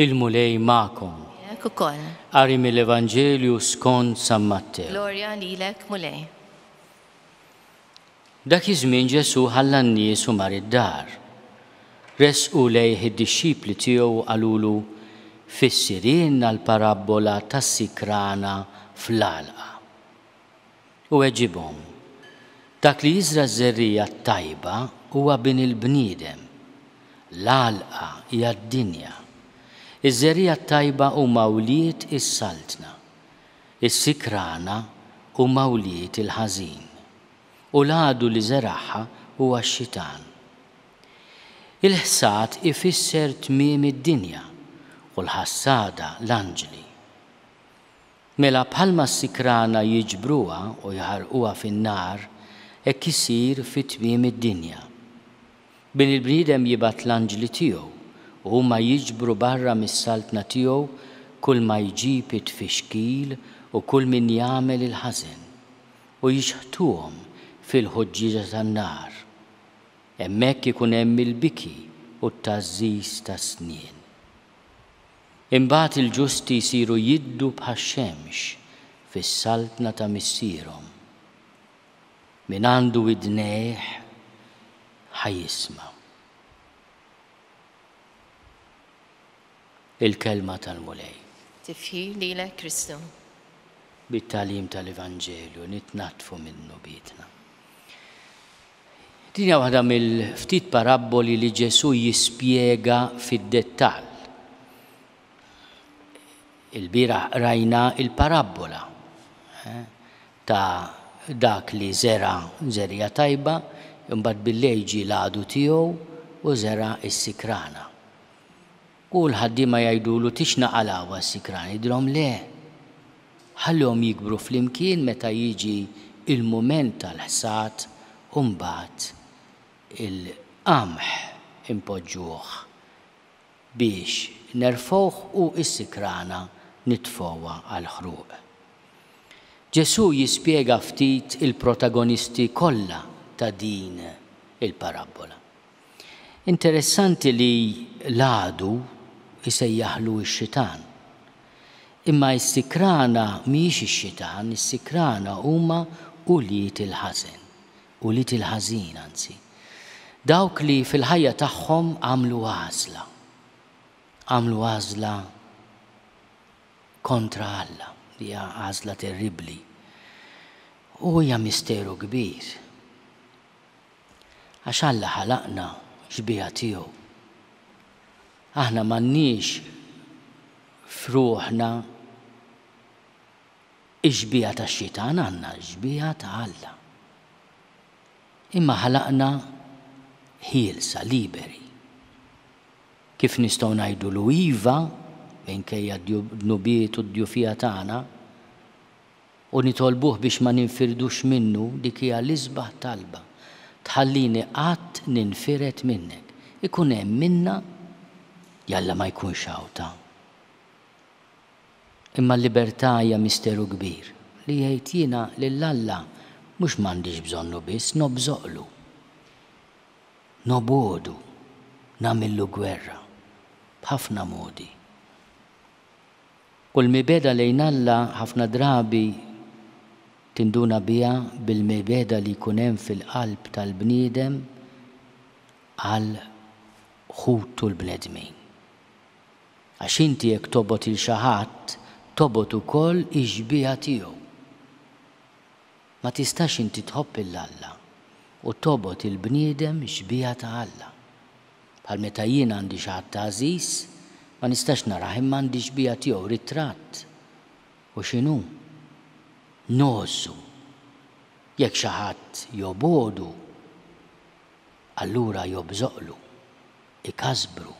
il-Mulej magħkom. Jek ukoll. Qari mill-Evanġelju skont San Mattew. Glorja lilek, Mulej. Dak iż-żmien Ġesù ħalla n-nies u mar id-dar. Resqu lejh id-dixxipli tiegħu u qalulu, Fissirilna l-parabbola tas-sikrana fl-għalqa. U weġibhom, Dak li jiżra' ż-żerriegħa t-tajba huwa Bin il-bniedem. L-għalqa hija d-dinja. Iż-żerriegħa t-tajba huma wlied is-Saltna. Is-sikrana huma wlied il-ħażin, u l-għadu li żeragħha huwa x-xitan. Il-ħsad ifisser tmiem id-dinja u l-ħassada l-anġli. Mela bħalma s-sikrana jiġbruha u jħarrquha fin-nar, hekk isir fi tmiem id-dinja. Billi l-bniedem jibgħat l-anġli tiegħu u huma jiġbru barra mis-saltna tiegħu kull ma jġib it-tfixkil u kull min jagħmel il-ħażen, u jixħtuhom fil-ħuġġieġa tan-nar. Hemmhekk ikun hemm il-biki u t-tgħażżiż tas-snien. Imbagħad il-ġusti jsiru jiddu bħax-xemx fis-saltna ta' Missierhom. Min għandu widnejh ħa jisma' l-kelma tal-Mulej. Tifħir lilek Kristu. Bit-tagħlim tal-Evanġelju nitnaddfu minn dnubietna. Din hija waħda mill-ftit parabboli li Ġesù jispjega fid-dettall. Il-bieraħ qrajna il-parabbola. Eh? ta' dak li żera' żerriegħa tajba, imbagħad billejl ġie l-għadu tiegħu u żera' s-sikrana. U l-ħaddiema jgħidulu, Tixna qalgħuha s-sikrana. Jgħidilhom, Le! Ħallihom jikbru flimkien meta jiġi l-mument tal-ħsad u mbagħad il-qamħ inpoġġuh. Biex nerfgħuh u s-sikrana nitfgħuha għall-ħruq. Ġesù jispjega ftit il-protagonisti kollha ta' din il-parabbola. Interessanti li l-għadu jsejjaħlu x-xitan. Imma s-sikrana mhijiex ix-xitan, is-sikrana huma ulied il-ħażen. u li til-ħażin, anzi. Dawk li fil-ħajja tagħhom għamlu għażla. Għamlu għażla kontra Alla, li hija għażla terribbli. U hija misteru kbir. Għax Alla ħalaqna xbiha tiegħu. Aħna m'għandniex f'ruħna Ix-xbieha tax-xitan għandna x-xbieha ta' Alla. Imma ħalaqna ħielsa, liberi. Kif nistgħu ngħidulu iva minkejja d-dnubiet u d-djufija tagħna u nitolbuh biex ma ninfirdux minnu? Dik hija l-isbaħ talba, Tħallini qatt ninfired minnek. Ikun hemm minna? Jalla ma jkunx hawn ta' Imma l-libertà hija misteru kbir, li jgħid jiena lil Alla mhux m'għandix bżonnu biss nobżoqlu. Nobgħodu, nagħmillu gwerra, b'ħafna modi. U l-mibegħda lejn Alla ħafna drabi tinduna biha bil-mibegħda li jkun hemm fil-qalb tal-bniedem għal ħutu l-bnedmin. Għax inti jekk tobgħod 'il xi ħadd, tobgħod ukoll ix-xbieha tiegħu. Ma tistax inti tħobb 'il Alla u tobgħod 'il bniedem xbieha ta' Alla. Bħal meta jien għandi xi ħadd għażiż, ma nistax narah imma għandi xbieha tiegħu, ritratt. U x'inhu? Ngħożżu. Jekk xi ħadd jobgħodu, allura jobżoqlu, ikasbru.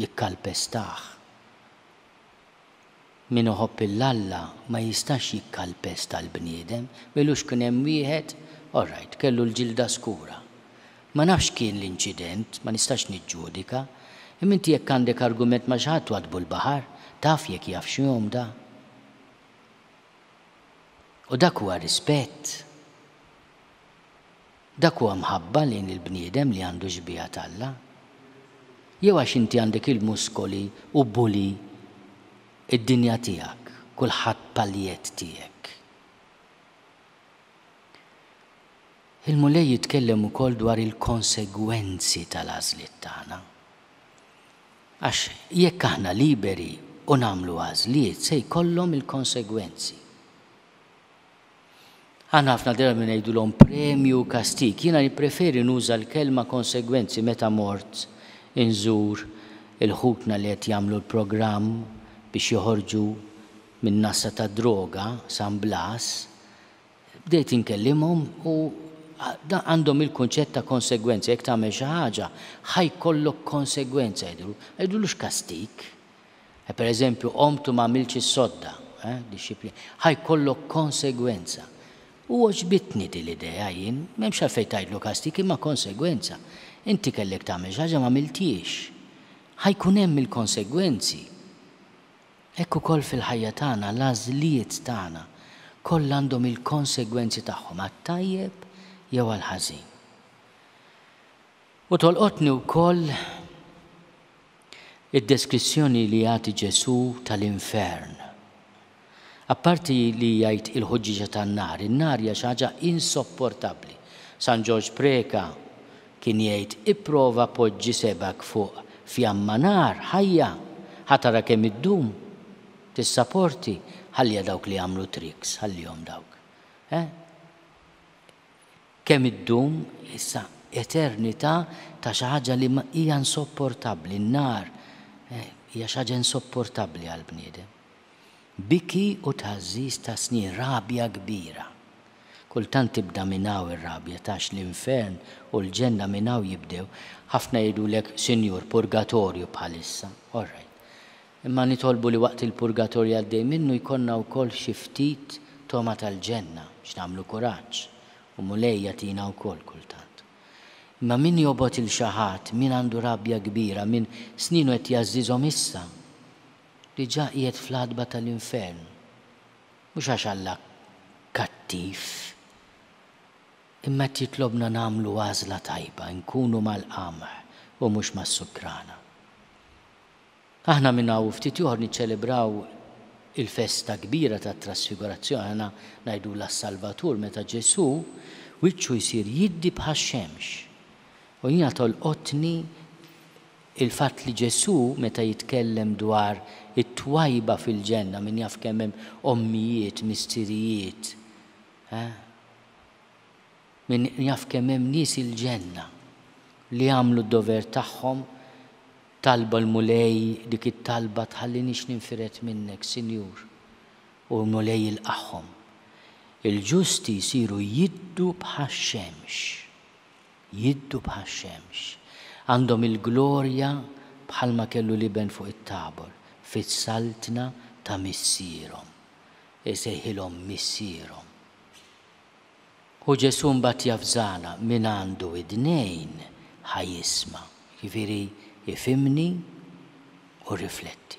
jikkalpestah. Min iħobb lil Alla ma jistax jikkalpesta l-bniedem, m'ilux kien hemm wieħed, alright, kellu l-ġilda skura. Ma nafx x'kien l-inċident, ma nistax niġġudika, imma inti jekk għandek argument ma' xi ħadd waddbu l-baħar, taf jekk jaf x'jom da? U dak huwa rispett? Dak huwa mħabba lejn il-bniedem li għandu x-xbieha t'Alla? Jew għax inti għandek il-muskoli u bully id-dinja tiegħek, kulħadd paljett tiegħek? Il-Mulej jitkellem ukoll dwar il-konsegwenzi tal-għażliet tagħna. Għax jekk aħna liberi u nagħmlu għażliet se jkollhom il-konsegwenzi. Aħna ħafna drabi ngħidulhom premju u kastig. Jiena nippreferi nuża l-kelma konsegwenzi meta mort inżur il-ħutna li qed jagħmlu l-programm biex joħorġu min-nassa tad-droga, San Blas. Bdejt inkellimhom u għandhom il-kunċett ta' konsegwenza, jekk tagħmel xi ħaġa, ħa jkollok konsegwenza jgħidulu. Ma jgħidulux kastig, Eh, per eżempju, qomt u ma għamiltx is-sodda, eh, dixxipli, ħa jkollok konsegwenza. U oġbitni di l-idea jien, m'hemmx għalfejn tgħidlu kastik imma konsegwenza. Inti kellek tagħmel xi ħaġa ma għamiltiex. Ħa jkun hemm il-konsegwenzi. Hekk ukoll fil-ħajja tagħna l-għażliet tagħna kollha għandhom il-konsegwenzi tagħhom għat-tajjeb jew għall-ħażin. U tolqotni wkoll id-deskrizzjoni li jagħti Ġesù tal-infern. Apparti li jgħid il-ħuġġieġa tan-nar, in-nar hija xi ħaġa insopportabbli. San Ġorġ Preca kien jgħid, Ipprova poġġi sebgħek fuq fjamma nar ħajja, ħa tara kemm iddum. Tissaporti? Ħalliha dawk li jagħmlu tricks, ħallihom dawk. Eh? Kemm iddum, issa, eternità ta' xi ħaġa li hija insopportabbli, n-nar hija xi ħaġa insopportabbli għall-bniedem. Biki u tħażżiż ta' snin, rabja kbira. Kultant tibda minn hawn ir-rabja għax l-infern u l-ġenna minn hawn jibdew. Ħafna jgħidulek, Sinjur, purgatorju bħalissa. Orrajt. Imma nitolbu li waqt il-purgatorju għaddej minnu jkollna wkoll xi ftit togħma tal-ġenna biex nagħmlu kuraġġ u Mulej jagħtina wkoll kultant. Imma min jobgħod 'il xi ħadd, min għandu rabja kbira, min snienu qed jgħażżiżhom issa, diġà qiegħed fl-għatba tal-infern. Mhux għax Alla kattiv, imma qed jitlobna nagħmlu għażla tajba, inkunu mal-qamħ u mhux mas-sukrana. Aħna minn hawn u ftit ieħor niċċelebraw il-festa kbira tat-Trasfigurazzjoni, aħna ngħidulha s-Salvatur, meta Ġesù wiċċu jsir jiddi bħax-xemx. U jiena tolqotni l-fatt li Ġesù meta jitkellem dwar it-twajba fil-Ġenna, min jaf kemm hemm ommijiet, missirijiet, min jaf kemm hemm nies il-Ġenna li għamlu d-dover tagħhom Talba l-Mulej dik it-talba tħalliniex ninfired minnek, Sinjur. U l-Mulej jilqagħhom. Il-ġusti jsiru jiddu bħax-xemx. Jiddu bħax-xemx. Għandhom il-glorja bħalma kellu l-Iben fuq it-Tabor, fis-saltna ta' Missierhom. Isejħilhom Missierhom. U Ġesù mbagħad javżana, Min għandu widnejn ħa jisma'. Jiġifieri ifhimni u rrifletti.